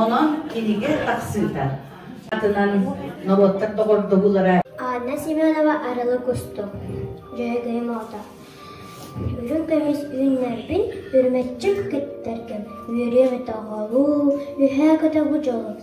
Онон кинигэ тахсыыта атынан норуоттар доҕордоһуулара Анна Семенова арылы кустук дьөһөгөйүм оҕото үрүҥ көмүс үүннэрбин үрмэччик кыттаргым үөрүөм өтөҕолуу үһээ көтөҕү дьолум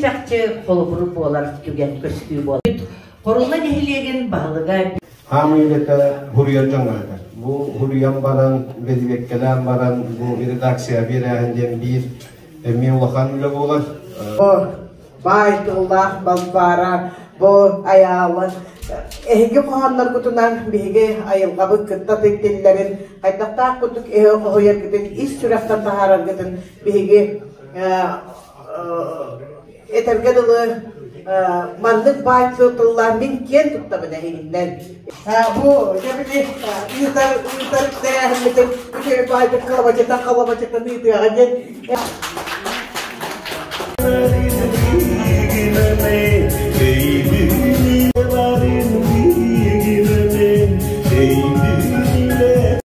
чахчы холобур буолар түгэн көстүү буолбут. Хорулла нэһилиэгин баһылыга Хаамыырыта Гурьян Бу Гурьян баран, бэдибеккэлээн баран, бу редакция биэрээһин диэн биир эмиэ улахан үлэ буолар. Бу баай тыллаах Балбаара, бу айаалын эһиги хоһоонноргутунан биһиги айылҕабыт кытта тиктиллэрин, хайдахтаах курдук өһө хоһуйаргытын, ис сүрэхтэн таһаараргытын биһиги Этэргэ дылы, маннык бааччы тыллаан мин киэн туттабына иһиннэр. Бу дьэбили ыытар ыытар тэрээһиммитин үчүгэй баайдык халабачыта халабачыта ыытыаҕа диэн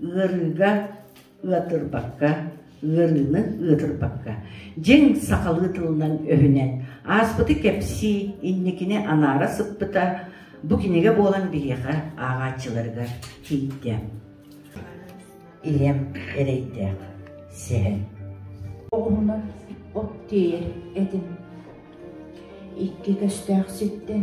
Ыарыыга ыатырбакка, ыарыыны ыатырбакка, дьиҥ сахалыы тылынан өһүнэн ааспыты кэпсии, инникини анаара сыппыта бу кинигэ буолан биһиэхэ ааҕааччыларыгар тиийдэ. Ийэм эрэйдээх, сэһэн. Оҕуһунан от тиэйэр этим. Икки көстөөх ситтэн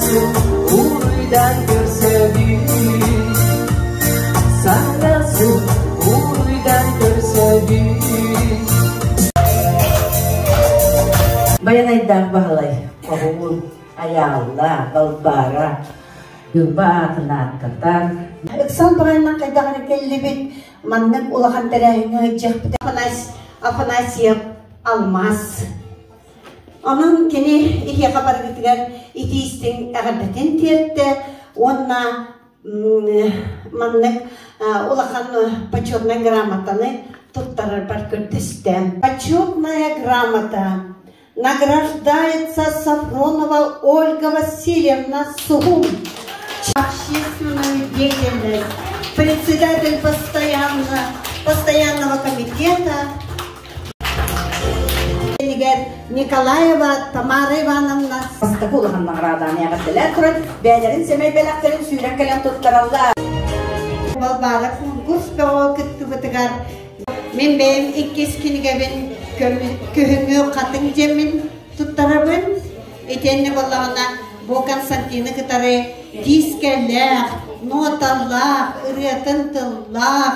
Уруйдан көрсөбүн Саҥа сыл уруйдан көрсөбүн Байанайдаах Баһылай Оһуун Айаалла Балбаара Дылба аатын ааттатан Ыксал баҕайынан хайдах эрэ кэллибит маннык улахан тэрээһиҥҥэ ыдьыахпыт Афанасьев Алмаз Онон кини эһиэхэ барыгытыгар итии-истиҥ эҕэрдэтин тиэртэ уонна маннык улахан почетнай грамотаны туттарарбар көрдөстө. Почетная грамота награждается Сафронова Ольга Васильевна Сухум. Общественную деятельность, председатель постоянного, постоянного комитета Николаева Тамара Ивановна бастакы улахан наҕарааданы эҕэрдэлээн туран бэйэлэрин сэмэй бэлэхтэрин сүүрэн кэлэн туттараллар. Балбаалар кунгурс бөҕө кыттыбытыгар мин бэйэм иккис кинигэбин күһүҥҥү хатыҥ дьэммин туттарабын. Итиэннэ боллоҕуна бу Константины кытары диискэлээх, ноталаах, ырыатын тыллаах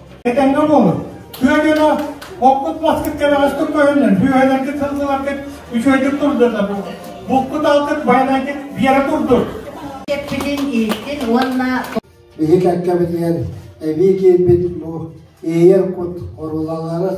Этэҥҥэ буолун! Күөдьүнү оппут маскыт кэбэҕэстик көһүннүн, бүөһэлэргит сылсыларгыт үчүгэйдик турдунна. Булкут алтыт, байанайгыт биэрэ турдун! Эппитин ииттин уонна Иһитэккэбитигэр эбии киирбит бу иэйэр кут орулалары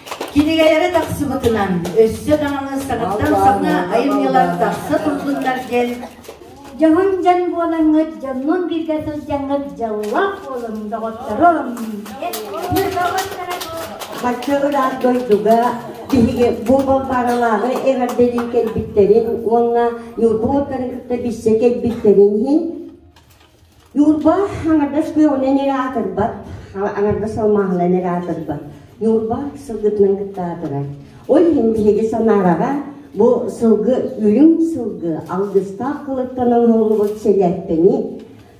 Кинигэлэрэ тахсыбытынан, өссө даҕаны саҥаттан саҥа айымньылар тахса турдуннар диэн дьоһун-дьон буолаҥҥыт, дьоннун бииргэ сылдьаҥҥыт дьоллоох буолун, доҕотторо Бачча ыраах дойдуга биһиги бу Балбааралааҕы эҕэрдэлии кэлбиттэрин уонна Ньурбу утары кытта билсэ кэлбиттэрин иһин Ньурба аҥардас күөҕүнэн эрэ аатырбат, аҥардас алмааһынан эрэ аатырбат. Ньурба сылгытынан кытта аатырар. Ол иһин биһиги санаараҕа бу сылгы үрүҥ сылгы алгыстаах кылыттан оҥоһуллубут сэлээппэни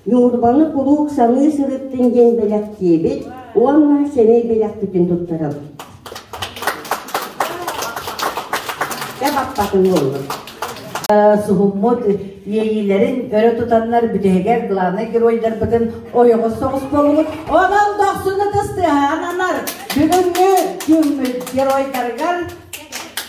Ньурбаны куруук саныы сырыттын диэн бэлэхтиэбит уонна сэмэй бэлэхпитин туттарабыт. Суһуммут иэйиилэрин өрө тутаннар бүтэһигэр главнай геройдарбытын ойоҕос соҕус буоллубут. Онон дохсун ытыс тыаһаан анар бүгүҥҥү күммүт геройдарыгар